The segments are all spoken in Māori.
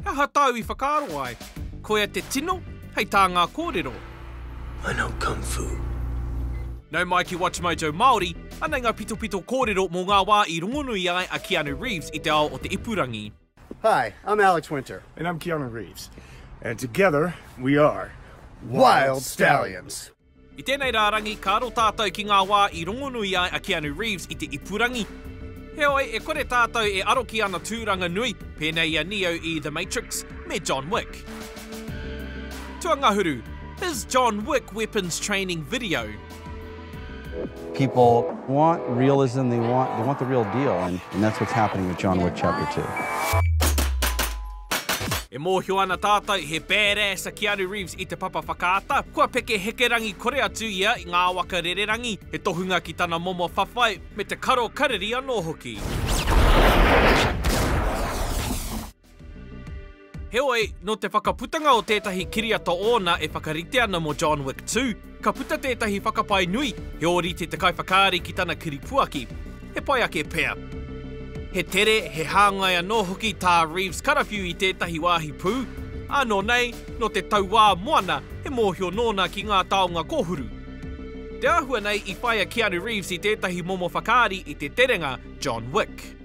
Aha tāu i whakaaro ai? Koia te tino, hei tā ngā kōrero. I know kung fu. Nau mai ki WatchMojo Māori, anei ngā pitopito kōrero mō ngā wā i rongonui ai a Keanu Reeves i te ao o te ipurangi. Hi, I'm Alex Winter. And I'm Keanu Reeves. And together we are Wild Stallions! I tēnei rārangi, ka aro tātou ki ngā wā i rongonui ai a Keanu Reeves i te ipurangi. Heoi, e kore tātou e aro ki ana tūranga nui, pēnei i a Neo i The Matrix, me John Wick. Tuangahuru, His John Wick weapons training video. People want realism, they want, they want the real deal and that's what's happening with John Wick Chapter Two. E mōhio ana tātou he badass a Keanu Reeves i te papa whakaata, kua peke hekerangi kore atu ia i ngā waka rererangi, he tohunga ki tana momo whawhai, me te karo kariri anō hoki. Heoi, nō te whakaputanga o tētahi kiriata ōna e whakarite ana mō John Wick 2, Ka puta tētahi whakapae nui, he ōrite te kaiwhakaari ki tana kiripuaki. He pai ake pea. He tere, he hāngai anō hoki tā Reeves karawhiu i tētahi wāhi pū, ā nō nei, nō te tauā moana, he mōhio nōna ki ngā taonga kōhuru. Te āhua nei i whāia Keanu Reeves i tētahi momo whakaari i te terenga John Wick.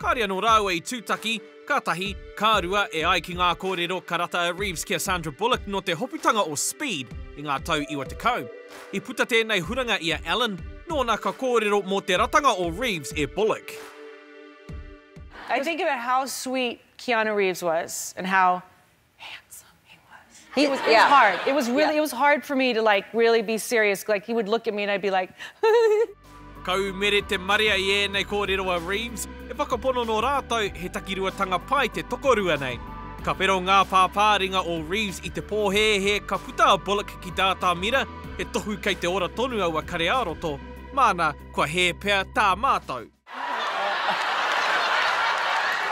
Kāre anō rāua i tūtaki, ka tahi, ka rua, e ai ki ngā kōrero ka rata a Reeves ki a Sandra Bullock nō te hoputanga o Speed i ngā tau iwa tekau. I puta tēnei huranga i a Allen, nōna ka kōrero mō te ratanga o Reeves e Bullock. I think about how sweet Keanu Reeves was and how handsome he was. He was, it yeah. was hard. It was really, yeah. it was hard for me to like really be serious. Like he would look at me and I'd be like. Kau mere te marea i ēnei kōrero a Reeves, e whakapono nō rātou he takiruatanga pai te tokorua nei. Ka whero ngā pāpāringa o Reeves i te pōhēhē ka puta a Bullock ki tā Tāmira, he tohu kei te ora tonu aua kare ā-roto, māna kua hē pea tā mātou.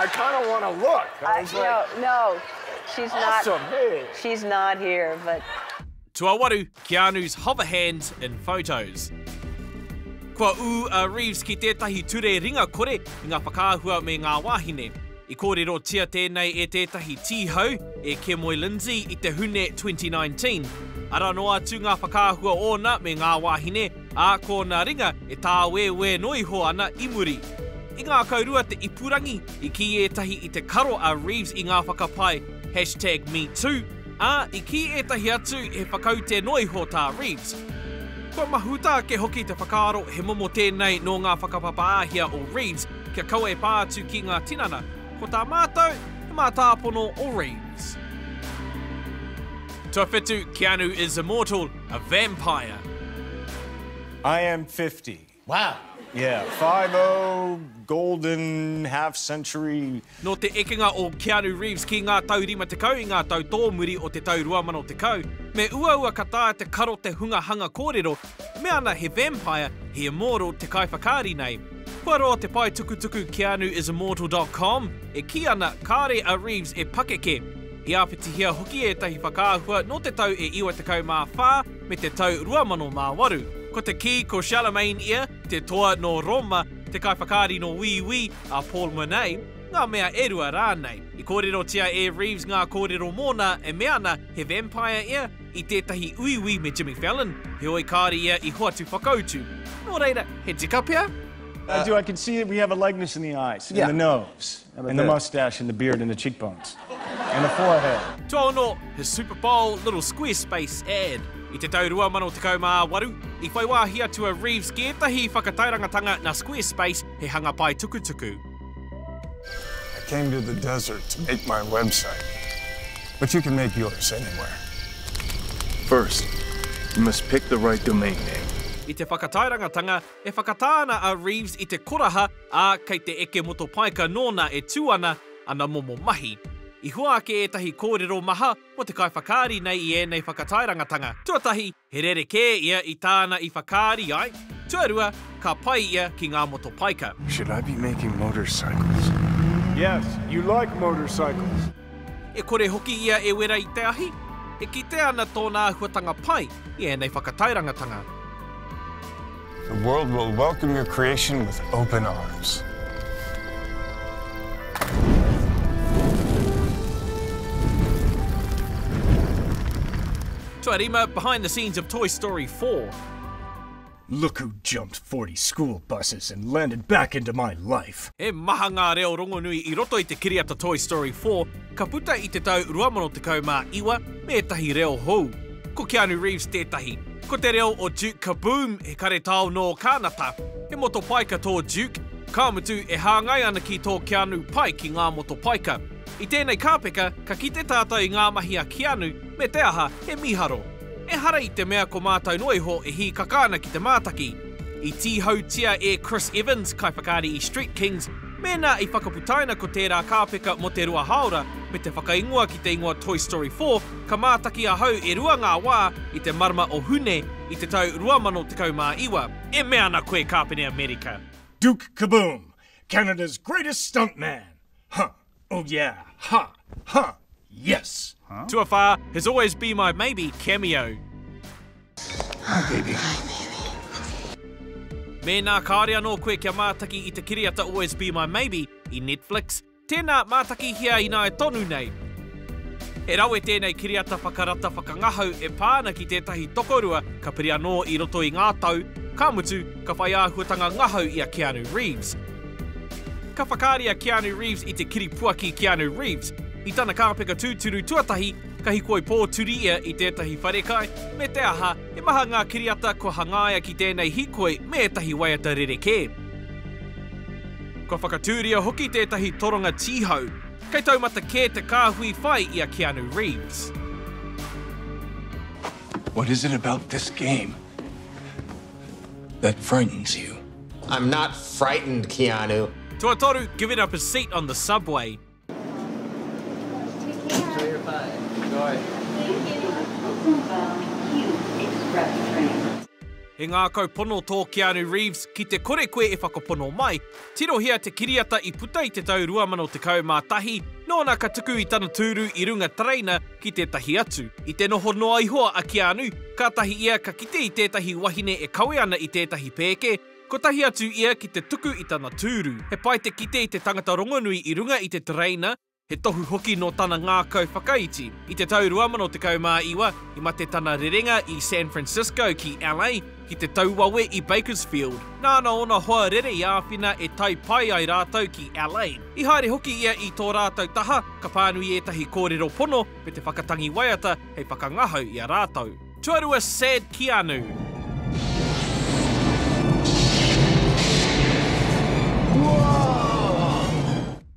I kind of want to look. I was like, no, no, she's awesome, not. Hey. She's not here, but. Tuawaru, Keanu's hover hands in photos. Kua ū a Reeves ki tētahi ture ringa kore i ngā whakaahua me ngā wāhine. I kōrerotia tēnei e tētahi tīhau, e Kemoy Lindsay i te Hune 2019. Ara noa atu ngā whakaahua ōna me ngā wāhine, ā, ko nā ringa e tāwēwē noa iho ana i muri. I ngākaurua te ipurangi, i kī ētahi i te karo a Reeves i ngā whakapae #MeToo, ā, i kī ētahi atu he whakaute noa iho tā Reeves. Kua mahuta ake hoki te whakaaro he momo tēnei nō ngā whakapapa āhia o Reeves kia kaua e pā atu ki ngā tinana, ko tā mātou, he mātāpono o Reeves. Tuawhitu, Keanu is immortal. A vampire. I am fifty. Wow! Yeah, five o, golden, half century. Nō te ekenga o Keanu Reeves ki ngā tau rima tekau i ngā tau tōmuri o te tau 2010, me uaua ka taea te karo te hunga hanga kōrero, me ana he vampire, he immortal te kaiwhakaari nei. Kua roa te paetukutuku keanu is immortal dot com e kī ana kāore a Reeves e pakeke. I āpitihia hoki ētahi whakaahua nō te tau e 94 me te tau 2008. Ko te kī ko Charlemagne ia, te toa nō Rōma, te kaiwhakaari nō Wīwī, a Paul Murnay, ngā mea e rua rānei. I kōrerotia e Reeves ngā kōrero mōna e mea ana he vampire ia, i tētahi uiui me Jimmy Fallon, heoi kāore ia i hoatu whakautu. Nō reira, he tika pea? I do, I can see that we have a likeness in the eyes, in the nose. And the moustache and the beard and the cheekbones. And the forehead. Tuaono, his Super Bowl little Squarespace ad. I te tau 2018, i whai wāhi atu a Reeves ki ētahi whakatairangatanga nā Squarespace, he hanga pae tukutuku. I came to the desert to make my website, but you can make yours anywhere. First, you must pick the right domain name. I te whakatairangatanga, E whakatā ana a Reeves i te koraha, ā, kei te eke motopaika nōna e tū ana ana momo mahi. I hua ake ētahi kōrero maha mō te kaiwhakaari nei i ēnei whakatairangatanga, tuatahi, he rerekē ia i tāna i whakaari ai, tuarua, ka pai ia ki ngā motopaika. Should I be making motorcycles? Yes, you like motorcycles. E kore hoki ia e wera i te ahi, e kitea ana tōna āhuatanga pai i ēnei whakatairangatanga. The world will welcome your creation with open arms. Tuarima, behind the scenes of Toy Story 4. Look who jumped forty school buses and landed back into my life! He maha ngā reo rongonui i roto i te kiriata Toy Story 4, ka puta i te tau 2019 me ētahi reo hou. Ko Keanu Reeves tētahi. Ko te reo o Duke Kaboom, he karetao nō Kānata. He motopaika tō Duke, ka mutu e hāngai ana ki tō Keanu pai ki ngā motopaika. I tēnei kāpeka, ka kite tātou i ngā mahi a Keanu, me te aha, he mīharo. Ehara i te mea ko mātou noa iho e hīkaka ana ki te mātaki. I tīhautia e Chris Evans, kaiwhakaari i Street Kings, mēnā i whakaputaina ko tērā kāpeka mō te rua hāora me te whakaingoa ki te ingoa Toy Story 4 ka mātaki ahau e rua ngā wā i te marama o Hune i te tau 2019. E mea ana koe Kāpene Amerika! Duke Kaboom, Canada's greatest stuntman! Huh! Oh yeah, ha, ha, yes! Tuawhā, He's always be my maybe cameo. Hi baby. Hi baby. Mēnā kāore anō koe kia mātaki i te kiriata Always Be My Maybe i Netflix, tēnā mātakihia ināe tonu nei. He rawe tēnei kiriata whakarata whakangahau e pā ana ki tētahi tokorua ka piri anō i roto i ngā tau, ka mutu, ka whai āhuatanga ngahau i a Keanu Reeves. Ka whakaari a Keanu Reeves i te kiripuaki Keanu Reeves. I tana kāpeka tūturu tuatahi, ka hikoi pōturi ia i tētahi wharekai, me te aha, he maha ngā kiriata kua hangaia ki tēnei hikoi me ētahi waiata rerekē. Kua whakatūria hoki tētahi toronga tīhau. Kei taumata kē te kāhui whai i a Keanu Reeves. What is it about this game that frightens you? I'm not frightened, Keanu. Tuatoru, giving up his seat on the subway. Enjoy your flight. Enjoy. Thank you. Welcome aboard Q Express train. He ngākau pono tō Keanu Reeves, ki te kore koe e whakapono mai. Tirohia te kiriata i puta i te tau 2011, nōna ka tuku i tana tūru i runga tereina, ki tētahi atu. I te noho noa iho a Keanu, kātahi ia ka kite i tētahi wahine e kawe ana i tētahi pēke, kotahi atu ia ki te tuku i tana tūru. He pai te kite i te tangata rongonui i runga i te tereina, he tohu hoki nō tana ngākau whakaiti. I te tau 2019, i mate tana rerenga i San Francisco ki LA, Ki te tau wawe i Bakersfield, nāna ōna hoa rere i āwhina e tae pai ai rātou ki Allain. I haere hoki ia i tō rātou taha, ka pānui ētahi kōrero pono me te whakatangi waiata hei whakangahau i a rātou. Tuarua Sad Keanu.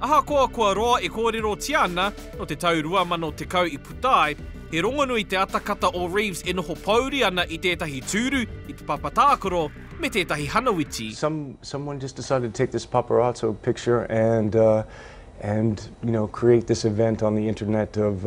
Ahakoa kua roa e kōrerotia ana, nō te tau 2010 i puta ai, he rongonui te atakata o Reeves e noho pōuri ana i tētahi tūru, i te papa tākaro, me tētahi hanawiti. Some someone just decided to take this paparazzo picture and and you know create this event on the internet of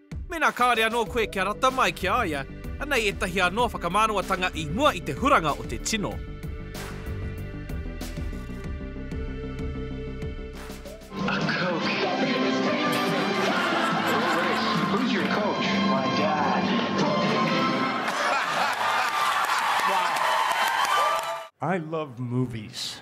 Mēnā kāore anō koe kia rata mai ki a ia, anei ētahi anō whakamānawa-tanga i mua i te huranga o te tino. I love movies.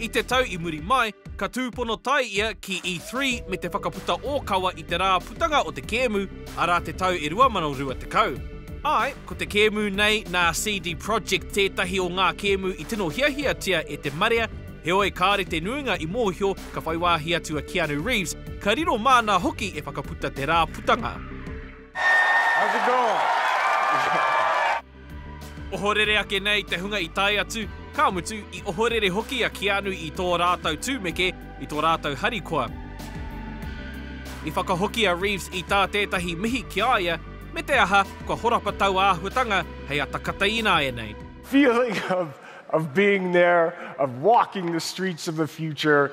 I te tau i muri mai, ka tūpono tae ia ki E3 me te whakaputa ōkawa i te rā putanga o te kēmu, arā te tau e 2020. Āe, ko te kēmu nei nā CD Projekt tētahi o ngā kēmu i tino hiahiatia e te marea, heoi kāore te nuinga i mōhio ka whai wāhi atu a Keanu Reeves, ka riro māna hoki e whakaputa te rā putanga. Ohorere ake nei te hunga i tae atu, ka mutu, i ohorere hoki a Keanu i tō rātou tūmeke, i tō rātou harikoa. I whakahoki a Reeves i tā tētahi mihi ki a ia, me te aha, kua horapa tau āhuatanga hei ata kata ināianei. feeling of of being there, of walking the streets of the future,